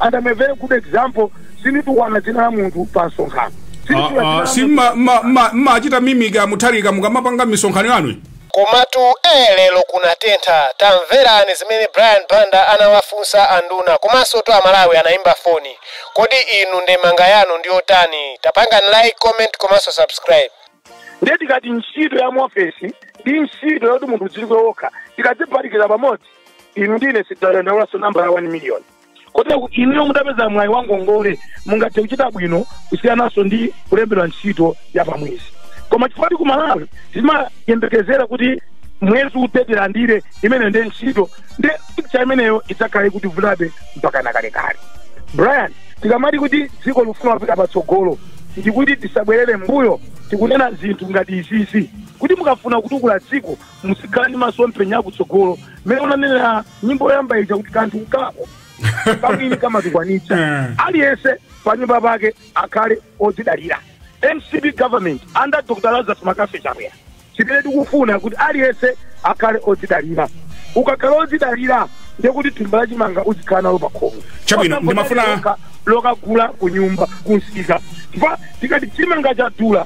And I'm a very good example. Sinditukwana dzina la munthu pa msonkhano. Sinditukwana dzina Ah, ah, la si munthu. mma- mma- mma- mumachita mimic a Mutharika mukamapanga misonkhano yanu komatu ee lero kunatentha tamverani zimene brian banda anawafunsa anduna komanso to amalawi anayimba foni kodi inu ndemanga yanu ndiyotani tapangani like comment komanso subscribe Ndiye tikati ntchito ya muofesi ndi ntchito yoti munthu udziwike wokha. Tikadziphatikiza pamodzi. inu ndine sitidzadandaulaso nambala ya 1 million kotera kuti inuyo mutapeza mwayi wa ngongole mungathe kuchita bwino kusiyananso ndi kulembedwa ntchito ya pamwezi koma chifukwa ku malawi timayembekezera kuti mwezi uthe tilandire imeneyo ndi ntchito ndi picha imeneyo idzakhala ikutivutabe mpaka nakalekale brian tikamati kuti dziko likufuna kupita patsogolo ndikuti tisabwerere mbuyo tikunena zinthu ngati izizi kuti mukafuna kutukula dziko muzikhala ndi masomphenya akutsogolo mmene unanena nyimbo yoyamba ija kuti kanthu kako kamwini kamatukwanitsa Mm. aliyense panyumba pake akhale odzidalira mcp government under dr lazarus McCarthy chakwera chimene tikufuna kuti aliyense akhale odzidalira ukakhala odzidalira ndiye kuti thumba la chimanga uzikhala nalo pakhomo Chabwino, Osangoti ndimafuna- lokha- lokagula kunyumba kumsika chifukwa tikati chimanga chadula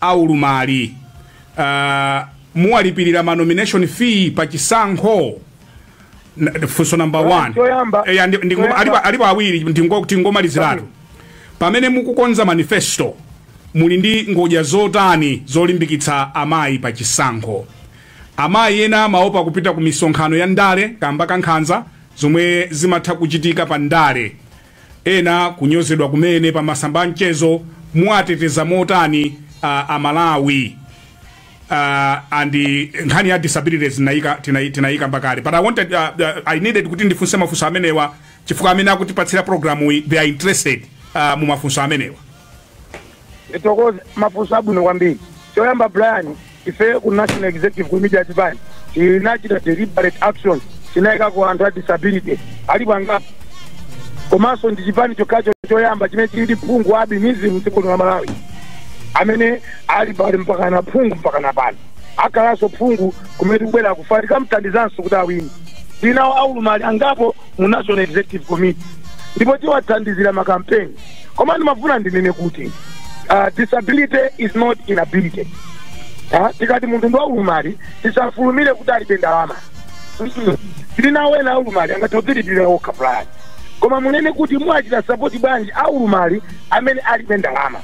a ulumali uh, muwalipirira ma nomination fee pa chisankho N- funso number Well, 1 choyamba- Eya, ndi- ndi- choyamba- alipo- alipo awiri ndingo- tingomaliziratu pamene mukukonza manifesto muli ndi ngodya zotani zolimbikitsa amayi pa chisankho amayi ena amaopa kupita ku misonkhano ya ndale kamba ka nkhanza zomwe zimatha kuchitika pa ndale Ena kunyozedwa kumene pa masamba a mchezo, muwateteza motani a a Malawi? Uh, and nkhani ya disabilities tinayika tinai- tinayikamba kale but i wanted uh, uh, i needed kuti ndifunse mafunso amenewa chifukwa amene akutipatsira programu iyi they are interested uh, mu mafunso amenewa ndithokoze mafunso abwino kwambiri choyamba brian ife ku national executive committee ya chipani tinachita deliberate action tinayikako anthu a disability alipo angapo komanso ndi chipani chokhacho choyamba chimene chili ndi phungu wa albinism m'dziko lino la malawi amene ali paliya mpaka na phungu mpaka na pano akhalanso phungu kumene tikubwera akufuna tikamthandizanso kuti awine tili nawo aulumali angapo mu national executive committee ndipo tiwathandizira makampeni koma ndimafuna ndinene kuti uh, disability is not inability Ah, tikati munthu ndi waulumali tisafulumire kuti alibe ndalama Mm-mm. tili nawo ena aulumali angathe kudzilipirira okha Brian koma munene kuti mwachita sapoti bwanji aulumali amene alibe ndalama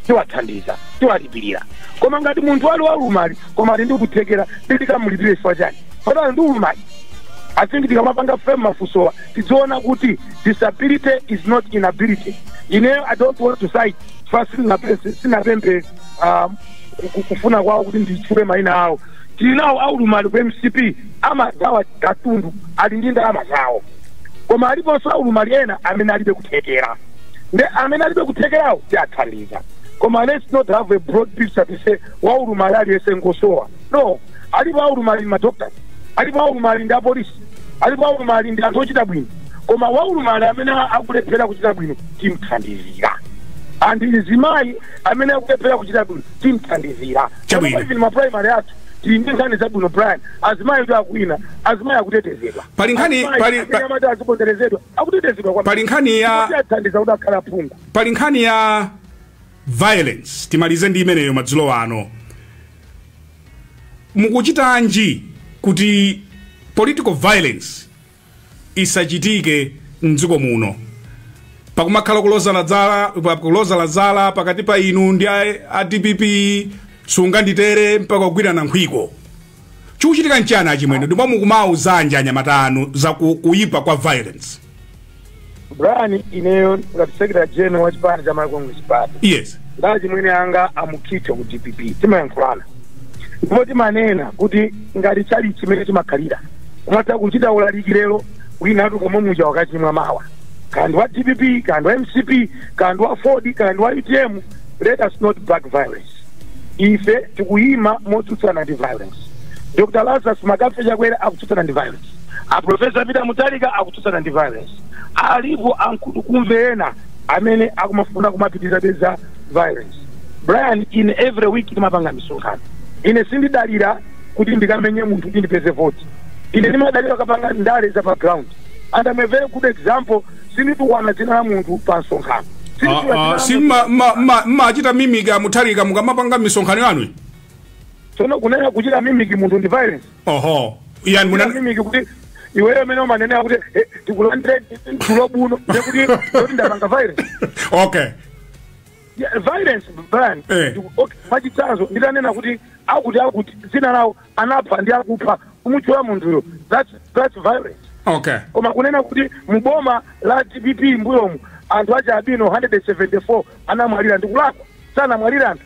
tiwathandiza tiwalipirira koma ngati munthu ali waulumali koma ali ndi kuthekera titikamulipire chifukwa chani poti ali ndi ulumali I think tikamapanga frame mafusowa tidziona kuti disability is not inability ineyo i don't want to cite first sinapemphe ah, ku- ku- kufuna kwawo kuti nditchule mayina awo tili nawo aulumali ku mcp amagawa katundu ali ndi ndalama zawo koma aliponso aulumali ena amene alibe kuthekera nde amene alibe kuthekerawo tiathandiza koma let's not have a broad picture to say waulumali aliyense ngosowa no alipo aulumali madoctors alipo aulumali ndi apolisi alipo aulumali ndi anthu ochita bwino koma waulumali amene akulephera kuchita bwino timthandizira and mzimayi amene akulephera kuchita bwino timthandizira Chabwino. Chifukwa even maprimary athu tili ndi nkhani zabwino brian azimayi kuti akuwina azimayi akutetezedwa Pali nkhani- Azimayi pali- amene pa- amati aziponderezedwa akutetezedwa kwambiri. Pali nkhani ya- Kuti athandiza kuti akhale aphungu pali nkhani ya violence timalize ndi imeneyo madzulo ano mukuchitanji kuti political violence isachitike mdziko muno pakumakhala kulozana dzala pa- kulozana zala pakati pa inu ndi a, a dpp sunganditere mpaka kugwirana nkhwiko chikuchitika nchani achimwene ndipo mukumawauzanji anyamata anu za ku- kuyipa kwa violence brian ineyo ngati secretary general wa chipani cha malawi congress party yes ndi achimwene anga a mukhito ku dpp timayankhulana ndipo timanena kuti ngati tchalitchi mmene chimakhalira umatha kuchita ulaliki lero wina atulukamo muja wakachimwa mawa kaya ndi wa dpp kaya ndi wa mcp kaya ndi wa aford kaya ndi wa utm let us not back violence ife tikuyima motsutsana ndi violence dr lazarus mccarthy chakwera akutsutsana ndi violence violence a professor peter mutharika akutsutsana ndi violence alipo ankhutukumve ena amene akumafuna kumapitirizabe za violence brian ine every week ndimapanga misonkhano ine sindidalira kuti ndikamenye munthu kuti ndipeze voti ine ndimadalira kapanga ndale za pa ground and I'm a very good example sinditukwana dzina la munthu pa msonkhano Sinditukwana dzina la Ah, ah, si munthu. mma- mma- mma- mmachita mimic a mutharika mukamapanga misonkhano yanu tsono kunena kuchita mimic munthu ndi violence oho yani muna mimic kuti iweyo mmene umanenera kuti eh, tikulandire tulo buno ndekuti kuti ndapanga violence okay Yeah, violence brian Eh. Ndiku- okay, mwachitsanzo nditanena kuti akuti akuti dzina lawo anapha ndi akupha kumutchula munthuyo that's, that's violence okay koma kunena kuti muboma la dpp mbuyomu anthu achialubino 174 anamwalira ndikulakwa sanamwalira anthu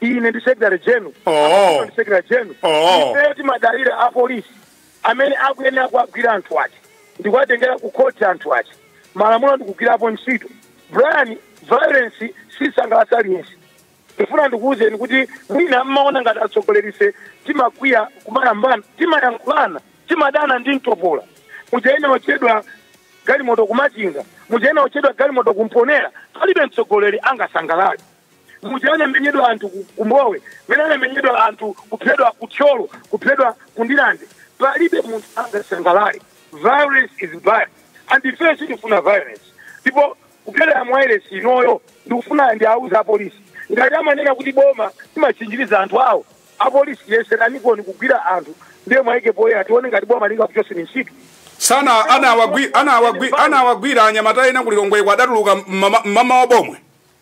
ine ndi secretary general Oh. Apaso ndi secretary general Oh. ife timadalira apolisi amene akuyenera kuwagwira anthu aja ndikuwatengera ku khoti anthu aja malamulo ndikugwirapo ntchito brian violence sisangalatsa aliyense ndifuna ndikuwuzeni kuti mwina mmaona ngati atsogolerife timakwiya kumayambana timayankhulana timadana ndi mtopola muja inaotchedwa galimoto ku machinga muja inaotchedwa galimoto ku mponela palibe mtsogoleri angasangalale muja anamenyedwa anthu ku- ku mbowe mene anamenyedwa anthu kuphedwa ku thyolo kuphedwa ku ndirande palibe munthu angasangalale violence is bad and ife sitifuna violence ndipo kupyolera mwairesi inoyo ndikufuna ndiwauze apolisi ngati amanena kuti boma limatchinjiriza anthu awo apolisi yeseraniponi kugwira anthu ndiye mwaike poyera tione ngati boma lingakuchoseni ntchito dzana anawagwi- anawagwi- anawagwira anyamata ena ku lilongweko adatuluka mmawa mmawa wa bomwe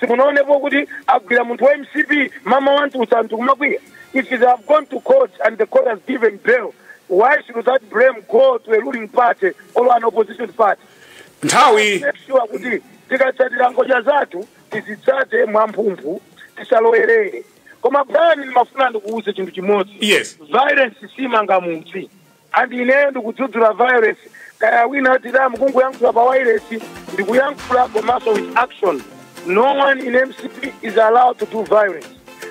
simunaonepo kuti agwira munthu wa mcp mmawa wamtulutsa anthu kumakwiya if they have gone to court and the court has given bail why should that blame go to a ruling party or an opposition party nthawi make sure kuti tikatsatira ngodya zathu tizitsate mwamphumphu tisalowerere koma brian ndimafuna ndikuwuze chinthu chimodzi yes violence simanga mudzi and ineyo ndikudzudzula violence kaya wina tidamu kungoyankhula pa wireless ndikuyankhula komanso with action no one in mcp is allowed to do violence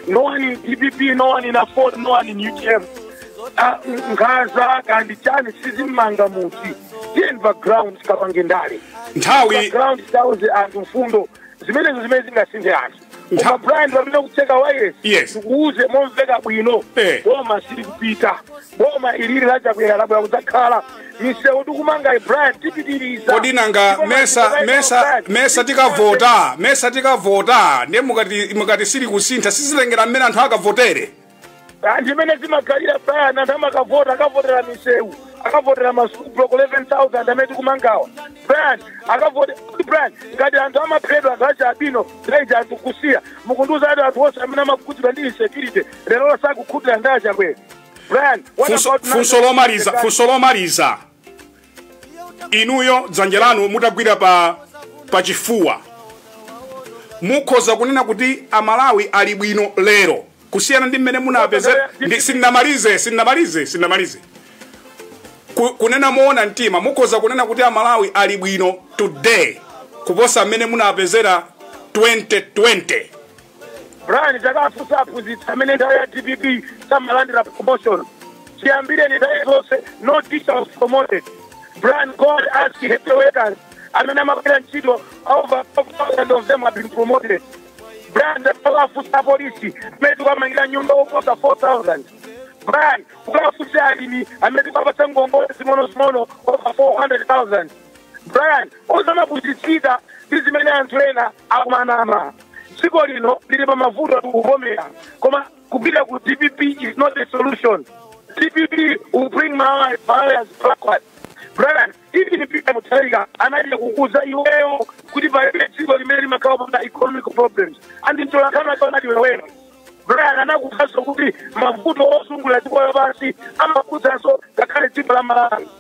no one in dpp no one in aford no one in utm Ah, nkhaza kaya ndi chani sizimanga mudzi tiyeni pa ground tikapange ndale nthawi pa ground tiwauze anthu mfundo zimenezo zimene zingasinthe anthu Ntha- koma brian pamene tikutseka wireless Yes. tikuuze momveka bwino Eh. boma sili kupita boma ilili la chakwera labwera kudzakhala misewu tikumanga brian tipitiriza kodi nanga Ndipo mesa masiku mesa anayenda mesa tikavota mesa tikavota ndiye mukati mukati sili kusintha sizitengera mmene anthu akavotere anthu ndi mmene zimakhalira brian anthu amakavota akavotera misewu akavotera masukulu block 11000 amene tikumangawa brian akavote kuti brian ngati anthu amaphedwa anthu achialubino naija anthu kusiya mukundiuza ati anthu onse amene amakhudzidwa ndi insecurity lero sakukhutira ndi a chakwera brian what Funso- about funso lomaliza funso lomaliza inuyo dzanja lanu mutagwira pa pachifuwa mukhoza kunena kuti amalawi ali bwino lero kusiyana ndi mmene munapezera ndi- sindinamalize sindinamalize sindinamalize Ku- kunena moona mtima mukhoza kunena kuti amalawi ali bwino today kuposa mmene munapezera 2020 brian takafunsa aphunzitsi amene nthawi ya dpp samalandira promotion chiyambireni nthawi zonse no teacher was promoted brian go and ask health workers amene amagwira ntchito over 5000 of them have been promoted brian takafunsa apolisi amene tikuwamangira nyumba oposa 4000 brian ukafunse alimi amene tikuwapatsa ngongole zing'onozing'ono over 400000 brian osamapusitsika ndi zimene anthu ena akumanama dziko lino lili pa mavuto tikuvomera koma kupita ku dpp is not a solution dpp will bring malawi malawians backward brian even peter mutharika anachita kukuuza iweyo kuti palibe dziko limene limakhala popanda economic problems and mtolankhani wake anati iweyo brian anakuuzanso kuti mavuto ozungulira dziko lapansi amakhudzanso ngakhale dziko la malawi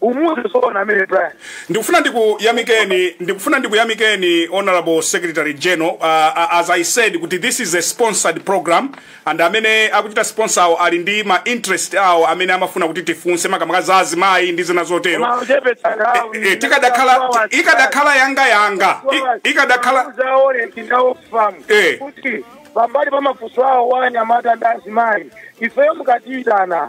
umuze zoona zimene brian ndikufuna ndikuyamikeni ndikufuna ndikuyamikeni honorable secretary general uh, uh, as i said kuti this is a sponsored program and amene akuchita sponsor awo ali ndi ma interest awo amene amafuna kuti tifunse makamaka za azimayi ndi zina zotero Koma kuchepetsa nthawi. Eh, eh, tikadakhala ti- ikadakhala yanga yanga I- ikadakhala zawanthu tinaona Eh. kuti pambali pa mafunso awo a anyamata ndi azimayi ifeyo mukatiyitana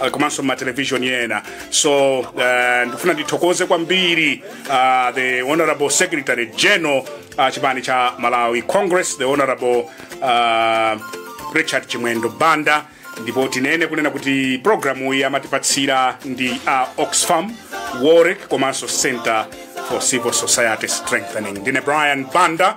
uh, komanso m'matelevishoni ena so uh, ndifuna ndithokoze kwambiri uh, the honorable secretary general uh, chipani cha malawi congress the honorable uh, richard chimwendo banda ndipo tinene kunena kuti programu iyi amatipatsira ndi a uh, oxfam wolrec komanso center for civil society strengthening ndine brian banda